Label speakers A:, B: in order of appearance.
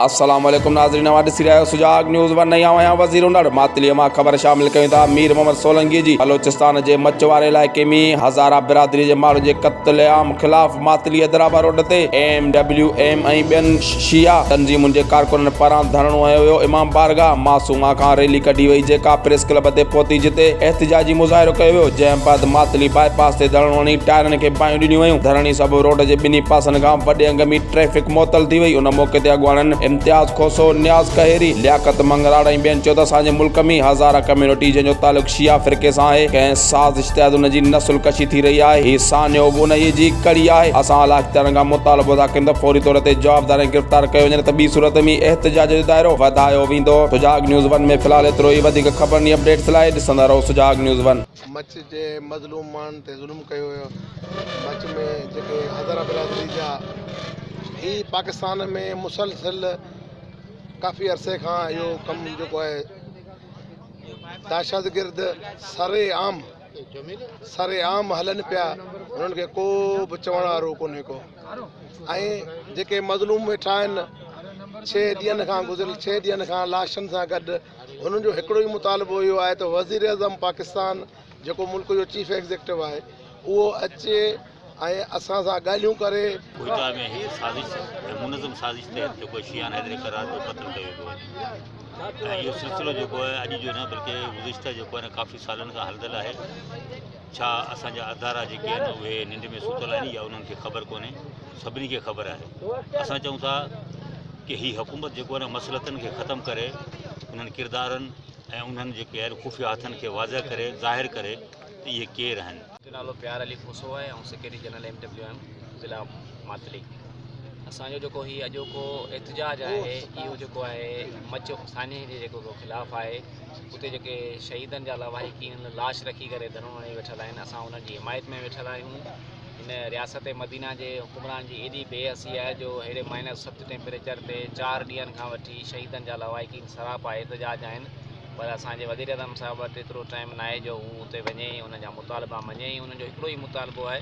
A: السلام عليڪم ناظرين اوهان ڏسي رهيا آهيو سجاڳ نيوز ون ۽ آئون آهيان وزير هنر ماتليء مان خبر شامل ڪيون ٿا مير محمد سولنگي جي بلوچستان جي مچ واري علائقي ۾ هزاره برادري جي ماڻهن جي قتل عام خلاف ماتليء درابا روڊ تي ايم ڊبليو ايم ۽ ٻين شيعا تنظيمن جي ڪارڪنن پاران ڌرڻو هنيو ويو، امام بارگاهه معصومه کان ريلي ڪڍي وئي جيڪا پريس ڪلب تي پهتي جتي احتجاجي مظاهرو ڪيو ويو جنهن بعد ماتلي باء پاس تي ڌرڻو هڻي ٽائرن کي باهيون ڏنيون ويون، ڌرڻي سبب روڊ جي ٻنهي پاسن کان وڏي انگ ۾ ٽريفڪ معطل ٿي وئي، ان موقعي تي اڳواڻن امتياز کوسو، نياز ڪهيري، لياقت مڱراڙ ۽ ٻين چيو ته اسان جي ملڪ ۾ هزاره ڪميونٽي جنهن جو تعلق شيعا فرقي سان آهي ڪنهن سازش تحت ان جي نسل ڪشي ٿي رهي آهي هي سانحو به انهيء جي هڪ ڪڙي آهي اسان اعليٰ اختيارن کان مطالبو ٿا ڪيون ته فوري طور تي جوابدار ۽ گرفتار ڪيو وڃي نه ته ٻي صورت ۾ احتجاج جو دائرو وڌايو ويندو سجاڳ نيوز ون ۾ في الحال ايترو ئي وڌيڪ خبرن ۽ اپڊيٽس لاء ڏسندا رهو سجاڳ نيوز ون. مچ جي
B: مظلوم ماڻهن تي ظلم ڪيو ويو مچ ۾ جيڪي هزارا برادري جا هي پاڪستان ۾ مسلسل ڪافي عرصي کان اهو ڪم جيڪو آهي دهشتگرد سري عام سري عام هلن پيا انهن کي ڪو به چوڻ وارو ڪونهي ڪو ۽ جيڪي مظلوم ويٺا آهن ڇهه ڏينهن کان گذريل ڇهه ڏينهن کان لاشن سان گڏ انهن جو هڪڙو ئي مطالبو اهو آهي ته وزير اعظم پاڪستان جيڪو ملڪ جو چيف ايگزيڪٽو آهي اهو اچي ۽ اسان سان ڳالهيون ڪري. ڪوئيٽا ۾ هڪ
C: سازش ۽ منظم سازش تحت جيڪو آهي شيهان حيدري قرار جو قتل ڪيو ويو آهي ۽ اهو سلسلو جيڪو آهي اڄ جو نه بلڪه گذشته جيڪو آهي ڪافي سالن کان هلندل آهي ڇا اسان جا ادارا جيڪي آهن اهي ننڊ ۾ ستل آهن يا انهن کي خبر ڪونهي سڀني کي خبر آهي اسان چئون ٿا ڪي هي حڪومت جيڪو آهي مسلطن کي ختم ڪري انهن ڪردارن ۽ انهن جيڪي آهن خفيه هٿن کي واضح ڪري ظاهر ڪري ته اهي ڪير آهن. جو نالو پيار علي
D: کوسو آهي ۽ secretary general M W M ضلع ماتلي اسان جو جيڪو هي اڄوڪو احتجاج آهي اهو جيڪو آهي مچ سانحي جي جيڪو خلاف آهي اتي جيڪي شهيدن جا لواحقين لاش رکي ڪري ڌرڻو هڻي ويٺل آهن اسان انهن جي حمايت ۾ ويٺل آهيون هن رياست مدينه جي حڪمران جي ايڏي بي حسي آهي جو هيڏي مائنس ست ٽيمپريچر تي چار ڏينهن کان وٺي شهيدن جا لواحقين سراپا احتجاج آهن پر اسان جي وزير اعظم صاحب وٽ ايترو ٽائيم ناهي جو هو اتي وڃي ۽ انهن جا مطالبا مڃي ۽ انهن جو هڪڙو ئي مطالبو آهي